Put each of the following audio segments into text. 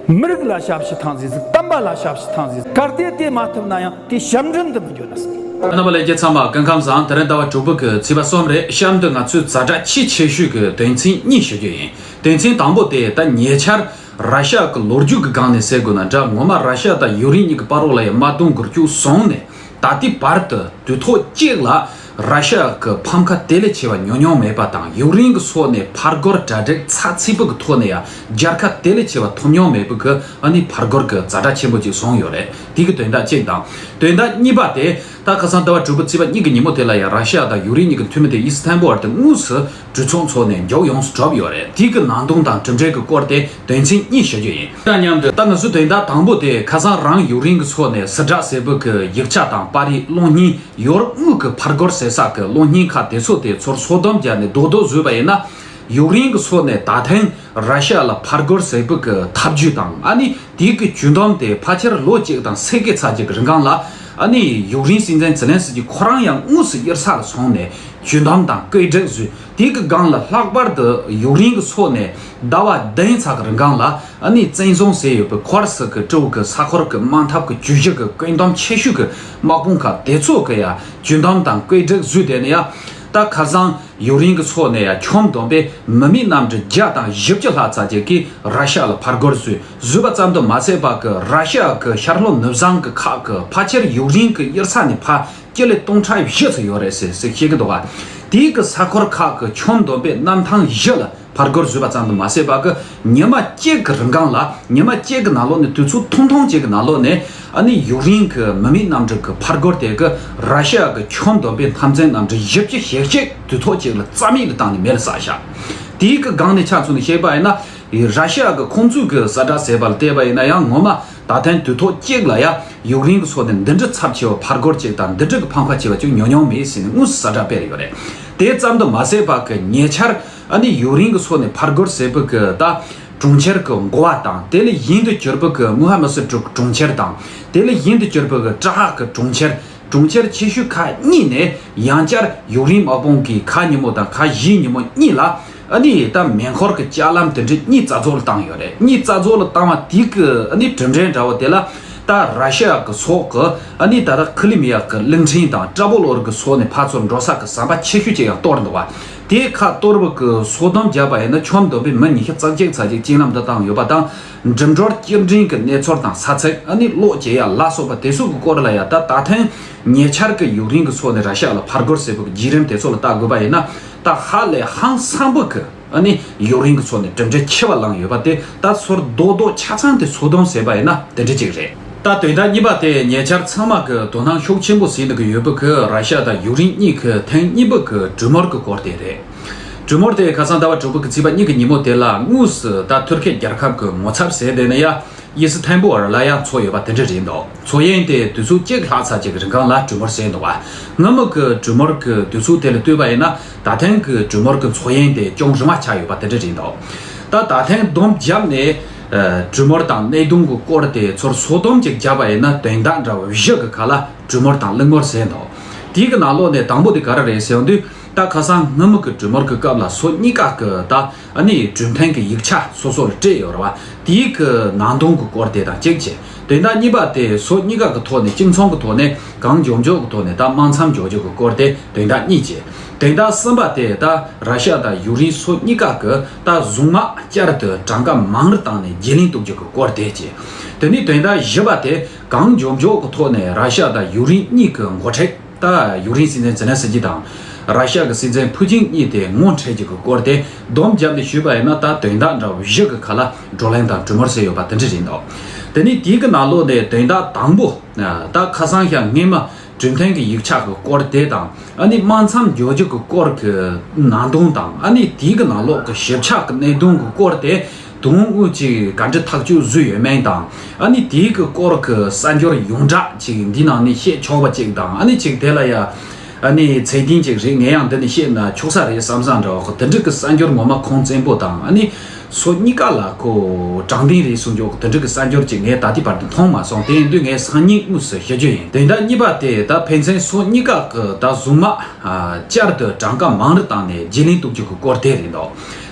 མི་རིགས་ལ་ཞབས་ཕྱི་ཐང་ཟིག་ཟིག་དམ་པ་ལ་ཞབས་ཕྱི་ཐང་ཟིག་ཟིག་གར་སྟེ་དེ་མ་ཐུབ་ན་ཡང་དེ་ཞབས་འདྲེན་དུ་མི་འགྱུར་ན་ཟིག། རྣམ་པ་ལས་རྒྱལ་ཚང་མ་སྐུ་ཁམས་བཟང་དེ་རིང་ཟླ་བ་དྲུག་པོ་གི་ཚེས་པ་གསུམ་རེད་གཤམ་དུ་ང་ཚོས་གཟའ་གྲགས་ཆེས་ཆེ་ཤོས་ཀྱི་དོན་ཚན་གཉིས་ཞུ་རྒྱུ་ཡིན་དོན་ཚན་དང་པོ་དེ་ད་ཉེ་ཆར་ར་ཤ་གི་ལོ་རྒྱུས་ཀྱི་སྒང་ནས་གསལ་དགོས་ན་འདྲ་ངོ་མ་ར་ཤ་དང་ཡུག་རིན་གཉིས་ཀྱི་དཔའ་རོགས་ལ་ཡང་དམག་དུང་གུར་བཅུ་བཟུང་ནས་ད་ལྟའི་བར་དུ་དུས་ཐོག་གཅིག་ལ་ར་ཤི་ཡ་གི་ཕམ་ཁ་དེ་ལས་ཆེ་བ་ཉོ་མྱོང་མེད་པ་དང་ཡུག་རེན་གི་སོགས་ནས་ཕར་རྒོལ་གྲ་སྒྲིག་ཚགས་ཚིག་པོ་གི་ཐོག་ནས་ཡང་རྒྱལ་ཁ་དེ་ལས་ཆེ་བ་ཐོབ་མྱོང་མེད་པོ་གི་ཨ་ནི་ཕར་རྒོལ་གི་རྫ་དྲ་ཆེན་པོ་ཅིག་བཟུང་ཡོད་རེད་དེ་གི་དོན་དག་གཅིག་དང། དོན་དག་གཉིས་པ་དེ་ད་ཁ་སང་ཟླ་བ་དྲུག་པོ་བརྩིས་པ་གཉིས་གི་ཉིན་མོ་དེ་ལ་ཡང་ར་ཤི་ཡ་དང་ཡུག་རེན་གཉིས་གི་འཐུས་མི་དེ་ཨིས་ཐན་པོ་ཨར་དེ་དངོས་སུ་གྲོས་ཚོགས་འཚོགས་ནས་མགྱོགས་ཡོངས་སུ་གྲུབ་ཡོད་རེད་དེ་གི་ནང་དོན་དང་གྲུབ་འབྲས་ཀྱི་སྐོར་དེ་དོན་ཚན་གཉིས་ཞུ་རྒྱུ་ཡིན། དང་མཉམ་དུ་ད་ང་ཚོ་དོན་དག་དང་པོ་དེ་ཁ་སང་རང་ཡུག་རིན་གྱི་ཚོགས་ནས་སི་བྲག་སེར་པོ་གི་ཡིག་ཆ་དང་པར་རིས་གློག་བརྙན་ཡོར་དངུལ་གྱི་ཕར་སྒོར་ཟེར་ས་གི་གློག་བརྙན་ཁག་དེ་ཚོ་དེ་ཚོར་སོ་བསྡོམས་བརྒྱབ་ནས་རྡོག་རྡོག་བཟོས་པ་ཡིན་ན་ཡུག་རིན་གྱི་ཚོགས་ནས་ད་ཐེངས་ར་ཤ་ལ་ཕར་རྒོལ་ཟེར་བུ་གི་ཐབས་ཇུས་དང་ཨ་ནི་དེའི་གི་ཇུས་འདོམས་དེ་ཕ་ཁྱེར་ལོ་གཅིག་དང་ཚེས་གི་ཚ་གཅིག་གི་རིང་གང་ལ་ཨ་ནི་ཡུག་རིན་སྲིད་འཛིན་ཛི་ལན་སི་ཀྱི་ཁོ་རང་ཡང་དངོས་སུ་དབྱེར་ས་ལ་སོང་ནས་ཇུས་འདོམས་དང་སྐོད་སྒྲིག་བཟོས་དེའི་གི་སྒང་ལ་ལྷག་པར་དུ་ཡུག་རིན་གི་ཚོ་ནས་ཟླ་བ་བདུན་ཚ་གི་རིང་གང་ལ་ཨ་ནི་བཙན་བཟུང་ཟེར་ཡོད་པའི་ཁོར་སི་ཀི་ཀྲོའུ་གི་ས་ཁོར་གི་དམག་འཐབ་གི་ཇུས་གཞི་གི་བཀོད་འདོམས་ཆེ་ཤོས་གི་དམག་དཔུང་ཁག་དེ་ཚོ་གི་ཡང་ཇུས་འདོམས་དང་སྐོད་སྒྲིག་བཟོས་དེ་ནི་ཡང་རྟ་ཁ་སང་ཡུག་རེན་གྱི་ཚོགས་ནས་ཡ་ཁྱོམ་བསྡོམས་པས་མི་མི་རྣམས་གྲི་བརྒྱ་དང་བཞི་བཅུ་ལྷག་ཙག་ཅིག་གིས་ར་ཤ་ལ་ཕར་རྒོལ་བཟོས་བཟོས་པ་ཙམ་དུ་མ་ཚད་པ་གི་ར་ཤ་གི་ཤར་ལྷོ་ནུབ་བཟང་གི་ཁག་གི་ཕ་ཁྱེར་ཡུག་རེན་གྱི་དབྱིར་ཚ་ནི་ཕ་ཁྱེར་ལས་སྟོང་ཕྲག་བཞི་ཚུ་ཡོད་རེད་ཟེ་ཟེ་བཤད་གི་འདུག་ག་དེའི་གི་ས་འཁོར་ཁག་གི་ཁྱོམ་བསྡོམས་པས་གནམ་ཐང་བཞི་ལ། ཕར་རྒོལ་བཟོས་པ་ཙམ་དུ་མ་ཟད་པར་གི་ཉི་མ་གཅིག་གི་རིན་གང་ལ་ཉི་མ་གཅིག་གི་ནང་ལོགས་ནས་དུས་ཚོད་ཐུང་ཐུང་གཅིག་གི་ནང་ལོགས་ནས་ཨ་ནི་ཡུག་རེན་གི་མི་མེད་གནམ་གྲུ་གི་ཕར་རྒོལ་དེ་གི་ར་ཤི་ཡ་གི་ཆུ་འདོམ་པའི་མཐའ་མཚན་གནམ་གྲུ་བཞི་བཅུ་ཞེ་གཅིག་དུས་ཐོག་གཅིག་ལ་རྩ་མེད་དུ་བཏང་ནས་མེ་ལ་ཟགས་བཞག་དེའི་གི་སྒང་ནས་ཆ་མཚོན་ནས་བཤད་པ་ཡིན་ན་ར་ཤི་ཡ་གི་ཁོང་ཚོས་གི་ས་བཀྲ་ཟེར་བ་ལ་བལྟས་པ་ཡིན་ན་ཡང་ངོ་མ་ད་ཐེངས་དུས་ཐོག་གཅིག་ལ་ཡ་ཡུག་རེན་གི་ཚོགས་ནས་འདི་འདྲི་ཚབས་ཆེ་བ་ཕར་རྒོལ་གཅིག་དང་འདི་འདྲི་གི་ཕམ་ཁ་ཆེ་བ་ཅུང་ཉུང་ཉུང་མེད་ཟེར་ནས་དངོས་སུ་ས་བཀྲ་སྤེལ་ཡོད་རེད་དེ་ཙམ་དུ་མ་ཟད་པར་གི་ཉེ་ཆར། ཨ་ནི་ཡུག་རིང་གི་ཚོགས་ནི་ཕར་རྒོལ་སེར་བུ་གི་ད་གྲོང་ཁྱེར་གི་མགོ་བ་དང་དེ་ལས་ཡིན་དུ་གྱུར་པོ་གི་མུ་ཧ་མི་སི་དྲུག་གི་གྲོང་ཁྱེར་དང་དེ་ལས་ཡིན་དུ་གྱུར་པོ་གི་ཏྲ་ཧག་གི་གྲོང་ཁྱེར་གྲོང་ཁྱེར་ཆེ་ཤོས་ཁག་གཉིས་ནི་ཡང་བསྐྱར་ཡུག་རིང་དམག་དཔུང་གིས་ཁ་ཉིན་མོ་དང་ཁ་བཞིའི་ཉིན་མོ་གཉིས་ལ་ཨ་ནི་ཡི་དམ་མེ་འཁོར་གི་ལྕགས་ལམ་དེ་འདྲི་གཉིས་རྩ་རྫོགས་ལ་བཏང་ཡོད་རེད་གཉིས་རྩ་རྫོགས་ལ་བཏང་བ་དེ་གི་ཨ་ནི་གྲུབ་འབྲས་འདྲ་བོ་དེ་ལ་ད་ར་ཤི་ཡ་གི་ཚོགས་གི་ཨ་ནི་ད་ལྟ་ཁི་ལི་མི་ཡ་གི་གླིང་ཕྲན་དང་ཏྲ་བོ་ལོར་གི་ཚོགས་ནི་ཕར་ཚུར་འགྲོ་ས་གི་ཟམ་པ་ཆེ་ཤོས་ཅིག་ཡང་གཏོར་འདུག་བ། དེས་ཁ་གཏོར་བ་ཀུན་སོགས་དམ་བཅའ་བ་ཡིན་ན་ཆོམ་སྡོམ་པའི་མི་ཉི་ཤུ་རྩ་གཅིག་ཚར་གཅིག་གཅིག་ལམ་དུ་བཏང་ཡོད་པ་དང། འགྲིམ་འགྲུལ་སྐྱེལ་འདྲེན་གྱི་གནས་ཚོར་དང་ས་ཚིགས་ཨ་ནི་གློག་སྐྱེལ་ཡ་ལ་སོགས་པ་དེ་སོགས་ཀྱི་སྐོར་ལ་ཡང་ད་ལྟ་ཐེངས་ཉེ་ཆར་གྱི་ཡུག་རེན་གྱི་ཚོགས་ནས་ར་ཤ་ལ་ཕར་རྒོལ་ཟེར་བའི་བརྒྱུད་རིམ་དེ་ཚོ་ལ་བལྟ་དགོས་པ་ཡིན་ན་ད་ཧ་ལས་ཧང་སངས་པོ་གི་ཨ་ནི་ཡུག་རེན་གྱི་ཚོགས་ནས་གྲུབ་འབྲས་ཁྱད་པར་བླངས་ཡོད་པ་དེ་ད་ཚོར་རྡོག་རྡོག་ཆ་ཚང་དེ་ཚོ་དོན་ཟེར་བ་ཡིན་ན་དེ་འདྲ་གཅིག་རེད། ལྟ་དོན་དག་གཉིས་པ་དེ་ཉེ་ཆར་ཚང་མ་གི་དོ་སྣང་ཤུགས་ཆེན་པོ་ཟིན་འདུག་གི་ཡོད་པོ་གི་ར་ཤ་དང་ཡུག་རིན་གཉིས་གི་ཐེངས་གཉིས་པོ་གི་གྲུ་མོར་གི་སྐོར་དེ་རེད། གྲུ་མོར་དེ་ཁ་སང་ཟླ་བ་དྲུག་པོ་གི་ཚིགས་པ་གཉིས་གི་ཉིན་མོ་དེ་ལ་དངོས་སུ་ད་ཐུར་ཁེ་རྒྱལ་ཁབ་གི་ངོ་ཚབ་ཟེར་དེ་ནི་ཡ་དབྱི་སི་ཐན་པོར་ལ་ཡང་འཚོགས་ཡོད་པ་དེ་འདྲ་རེད་འདུག་འཚོགས་ཡན་དེ་དུས་ཚོད་གཅིག་ལྷག་ཚར་རྗེས་གི་རིང་གང་ལ་གྲུ་མོར་ཟེར་འདུག་བ་སྔ་མོ་གི་གྲུ་མོར་གི་དུས་ཚོད་དེ་ལ་ལྟོས་པ་ཡིན་ན་ད་ཐེངས་གི་གྲུ་མོར་གི་འཚོགས་ཡན་དེ་ཅུང་རིང་བ་ཆགས་ཡོད་པ་དེ་འདྲ་རེད་འདུག་ད་ད་ཐེངས་བསྡོམས་བརྒྱབ་ནས། གྲུ་མོར་དང་སྣེ་གདུང་གི་སྐོར་དེ་ཚོར་སོ་སྡོམ་ཅིག་བརྒྱབ་པ་ཡིན་ན་དོན་དག་འདྲ་བ་བཞི་གི་ཁ་ལ་གྲུ་མོར་དང་གླིང་མོར་ཟེར་འདུག་དེའི་གི་ནང་ལོག་ནས་དང་པོ་དེ་ག་རེ་རེད་ཟེར་དུས་རྟ་ཁ་སང་སྔ་མུ་གི་གྲུ་མོར་གི་སྐབས་ལ་སོ་གཉིས་ཀ་གི་རྟ་ནི་གྲུ་འཐེན་གི་ཡིག་ཆ་སོ་སོར་སྤྲད་ཡོད་ར་བ་དེའི་གི་ནང་གདུང་གི་སྐོར་དེ་དང་གཅིག་བྱས་དོན་དག་གཉིས་པ་དེ་སོ་གཉིས་ཀ་གི་ཐོག་ནས་གཅིག་མཚུངས་གི་ཐོག་ནས་གང་མགྱོགས་མགྱོགས་གི་ཐོག་ནས་རྟ་དམག་མཚམས་འཇོག་རྒྱུ་གི་སྐོར་དེ་དོན་དག་གཉིས་བྱས་དོན་དག་གསུམ་པ་དེ་རྟ་ར་ཤ་དང་ཡུག་རིང་སོ་གཉིས་ཀ་གི། ད་གཟུངས་མ་བསྐྱར་དུ་གྲངས་ཀ་མང་རུ་བཏང་ནས་རྒྱས་ལིང་གཏུག་རྒྱུ་གི་སྐོར་དེ་བྱས། དེ་ནི་དོན་དག་བཞི་པ་དེ་གང་འབྱོར་འཇོག་གི་ཐོག་ནས་ར་ཤ་དང་ཡུག་རིན་གཉིས་ཀི་མགོ་ཁྲེག་ད་ཡུག་རིན་སྲིད་འཛིན་ཛེ་ལན་སི་ཀི་དང། ར་ཤ་གི་སྲིད་འཛིན་ཕུ་ཅིང་གཉིས་དེ་ངོ་འཕྲད་རྒྱུ་གི་སྐོར་དེ་སྡོམ་བརྒྱབ་ནས་ཞུས་པ་ཡིན་ན་ད་དོན་དག་འདྲ་བཞི་གི་ཁ་ལ་བགྲོ་གླེང་དང་གྲུ་མོར་བསྲེས་ཡོད་པ་དེ་འདྲ་རེད་འདུག་དེ་ནི་དེའི་གི་ནང་ལོགས་ནས་དོན་དག་དང་པོ་ད་ཁ་སང་ཤ་ངན་མ་འདྲུད་འཐེན་གྱི་ཡིག་ཆ་གི་སྐོར་དེ་དང་ཨ་ནི་དམག་མཚམས་འཇོག་རྒྱུ་གི་སྐོར་གྱི་ནང་དོན་དང་ཨ་ནི་དེའི་གི་ནང་ལོགས་ཀྱི་ཞིབ་ཆགས་ཀྱི་གནད་དོན་གྱི་སྐོར་དེ་དོན་དངོས་ཅིག་ག་འདྲི་ཐག་གཅོད་བཟོས་ཡོད་མེད་དང་ཨ་ནི་དེའི་གི་སྐོར་གྱི་གསར་འགྱུར་ཡོངས་གྲགས་ཅིག་འདི་ནང་ནས་བཤད་ཆོག་པ་ཅིག་དང་ཨ་ནི་ཅིག་དེ་ལ་ཡ་ཨ་ནི་ཚད་ལྡན་ཅིག་རེད་ངས་ཡང་འདི་ནས་བཤད་ན་ཆོག་ས་རེད་བསམ་ས་འདྲ་བ་གོ་དེ་འདྲི་གི་གསར་འགྱུར་ངོ་མ་ཁོང་བཙན་པོ་དང་ཨ་ནི། སོ་གཉིས་ཀ་ལ་ཁོ་དྲང་བདེན་རེད་གསུངས་རྒྱུ་དོན་འགྲིག་གི་གསར་འགྱུར་ཅིག་ངས་ད་ལྟའི་བར་དུ་མཐོང་མ་སོང་དེ་འདུས་ངས་སང་ཉིན་དངོས་སུ་ཤེས་རྒྱུ་ཡིན་དེ་འདྲ་གཉིས་པ་དེ་ད་ཕན་ཚན་སོ་གཉིས་ཀ་གི་ད་གཟུངས་མ་བསྐྱར་དུ་གྲངས་ཀ་མང་རུ་བཏང་ནས་རྗེས་ལན་གཏུག་རྒྱུ་གི་སྐོར་དེ་རེད་འདོག་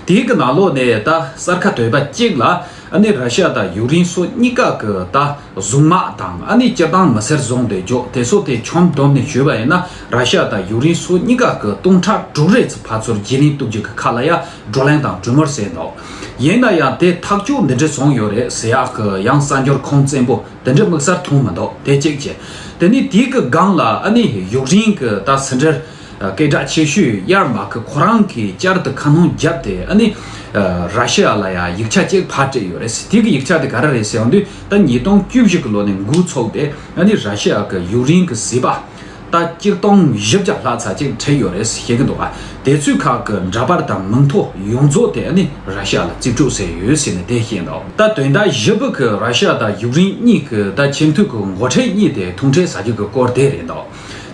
དེའི་གི་ནང་ལོག་ནས་ད་གསར་ཁ་དོད་པ་གཅིག་ལ་ཨ་ནི་ར་ཤ་དང་ཡུག་རིན་སོ་གཉིས་ཀ་གི་ད་གཟུངས་མ་དང་ཨ་ནི་སྤྱིར་བཏང་མི་སེར་བཟུང་དེ་འཇོག་དེ་སོ་དེ་ཆོམ་བསྡོམས་ནས་ཞུས་པ་ཡིན་ན་ར་ཤ་དང་ཡུག་རིན་སོ་གཉིས་ཀ་གི་སྟོང་ཕྲག་དྲུག་རེ་ཚུ་ཕར་ཚུར་རྗེས་ལན་གཏུག་རྒྱུ་གི་ཁ་ལ་ཡ། བགྲོ་གླེང་དང་གྲོས་མོལ་བྱས་འདུག་ཡིན་ན་ཡང་དེ་ཐག་གཅོད་འདི་འདྲས་བྱུང་ཡོད་རེད་ཟེར་ཡག་གི་ཡང་གསར་འགྱུར་ཁུངས་བཙན་པོ་དེ་འདྲས་དམིགས་སར་འཐུང་མི་འདུག་དེ་གཅིག་བྱས། དེ་ནས་དེའི་གི་སྒང་ལ་ཨ་ནི་ཡུག་རིན་གི་ད་ཟིན་བྲལ་སྐད་གྲགས་ཆེ་ཤོས་ཡར་མ་གི་ཁོ་རང་གིས་བསྐྱར་དུ་ཁ་སྣོན་བརྒྱབ་སྟེ་ཨ་ནི་ར་ཤི་ཡ་ལ་ཡང་ཡིག་ཆ་གཅིག་ཕར་སྤྲད་ཡོད་རེད་དེ་གི་ཡིག་ཆ་དེ་ག་རེ་རེད་ཟེར་དུས་ད་ཉིས་སྟོང་བཅུ་བཞི་གི་ལོ་ནས་འགུལ་ཚོགས་དེ་ཨ་ནི་ར་ཤི་ཡ་གི་ཡུག་རིན་གི་སྲིད་པ། རྟ་སྐྱིར་སྟོང་བཞི་བརྒྱ་ལྷག་ཚ་གཅིག་བྲེས་ཡོད་རེད་ཟེར་གྱི་འདུག་དེ་ཚོའི་ཁག་གི་འདྲ་པར་དང་མིང་ཐོ་ཡོངས་རྫོགས་དེ་ནི་ར་ཤ་ལ་རྩིས་སྤྲོད་ཟེར་ཡོད་ཟེར་ནས་དེ་བཤད་འདུག་ད་དོན་རྟ་བཞི་བུ་གི་ར་ཤ་དང་ཡུག་རིན་གཉིས་གི་རྟ་ཁྱིམ་མཐུད་ཀྱི་མགོ་ཁྲེ་གཉིས་དེ་ཐུང་ཁྲེ་ཟ་རྒྱུ་གི་སྐོར་དེ་རེད་འདུག་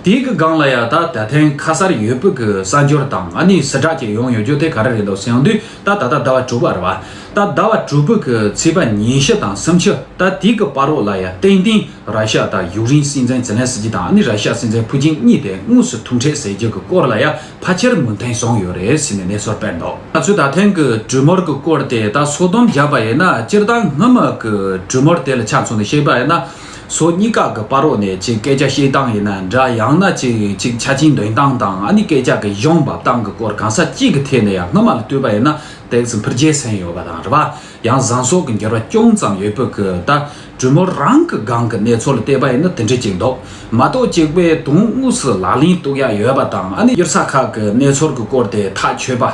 དེའི་གི་སྒང་ལ་ཡ་ད་ད་ཐེངས་ཁ་སར་ཡོད་བུ་གི་གསར་འབྱོར་དང་ཨ་ནི་སི་དྲག་ཅིག་ཡོང་ཡོད་རྒྱུ་དེ་ག་རེ་རེད་འདུག་ཟེང་དུས་ད་ད་ད་ཟླ་བ་དྲུག་པ་རེད་བ་ད་ཟླ་བ་དྲུག་བུ་གི་ཚེས་པ་ཉིན་ཞི་དང་སུམ་ཆུ་ད་དེའི་གི་པར་རོ་ལ་ཡ་ཏིང་ཏིང་ར་ཤ་དང་ཡུག་རེན་སྲིད་འཛིན་ཛེ་ལན་སི་ཀི་དང་ཨ་ནི་ར་ཤ་སྲིད་འཛིན་ཕུ་ཅིང་གཉིས་དེ་དངོས་སུ་ཐུག་འཕྲད་ཟེར་རྒྱུ་གི་སྐོར་ལ་ཡ་ཕ་ཆེར་མུན་ཐེངས་སོང་ཡོད་རེད་ཟེར་ནས་གནས་ཚོར་སྤེལ་འདུག། ང་ཚོས་ད་ཐེངས་ཀྱི་གྲོས་མོལ་གྱི་སྐོར་དེ་དག་སོ་བསྡོམས་བརྒྱབ་པ་ཡིན་ན་སྤྱིར་བཏང་སྔོན་མ་གྱི་གྲོས་མོལ་དེ་ལ་ཆ་མཚོན་ནས་བཤད་པ་ཡིན་ན། སོ་གཉིས་ཀ་གི་པར་རོགས་ནས་ཅིག་སྐད་ཆ་བཤད་སྟངས་ཡིན་ན་འདྲ་ཡང་ན་ཅིག་ཅིག་ཆ་རྐྱེན་འདོན་སྟངས་དང་ཨ་ནི་སྐད་ཆ་གི་གཞུང་འབབ་སྟངས་གྱི་སྐོར་གང་ཟག་གཅིག་གི་ཐད་ནས་ཡང་སྔོན་མ་ལ་ལྟོས་པ་ཡིན་ན་དེ་བཞིན་འཕུར་རྒྱལ་ཟིན་ཡོད་པ་དང་རེད་པ། ཡང་བཟང་སོགས་ཀྱི་འགྱུར་བ་ཅུང་ཙམ་ཡོད་པོ་ཀི་ད་གྲུ་མོ་རང་གི་སྒང་གི་གནས་ཚོད་ལ་བལྟས་པ་ཡིན་ན་དེ་འདྲ་ཅིག་འདུག་མ་གཏོགས་གཅིག་པའི་དུང་དངུས་སུ་ལག་ལེན་གཏུག་ཡ་ཡོད་པ་དང་ཨ་ནི་གཡུར་ས་ཁག་གི་གནས་ཚོར་གི་སྐོར་དེ་ཐག་ཆོད་པ་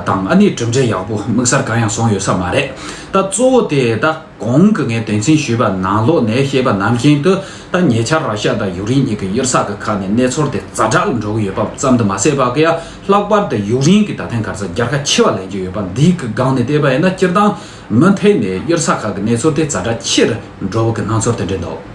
དང་ཨ་ནི་གྲུབ་འབྲས་ཡག་པོ་དམིགས་སར་གང་ཡང་སོང་ཡོད་ས་མ་རེད་ད་གཙོ་བོ་དེ་ད་གོང་གི་ངས་དོན་ཚན་ཞུས་པ་ནང་ལོག་ནས་བཤད་པ་ནམ་ཞིན་དུ་ད་ཉེ་ཆར་ར་ཤ་དང་ཡུག་རིན་གཉིས་ཀྱི་གཡུར་ས་གི་ཁག་ནས་གནས་ཚོར་དེ་རྫ་དྲག་ལ་འགྲོ་གི་ཡོད་པ་ཙམ་དུ་མ་ཟད་པ་ཀི་ཡ་ལྷག་པར་དུ་ཡུག་རེན་གྱི་ད་ཐེངས་གར་ས་རྒྱལ་ཁ་ཆེ་བ་ལེན་རྒྱུ་ཡོད་པ་འདིའི་གི་སྒང་ནས་བལྟས་པ་ཡིན་ན་སྤྱིར་བཏང་མུ་མཐའི་ནས་གཡུར་ས་ཁག་གི་གནས་ཚུལ་དེ་ཛར་སྒྲ་ཆེར་འགྲོ་བ་གི་སྣང་ཚོར་དེ་འདྲས་འདུག།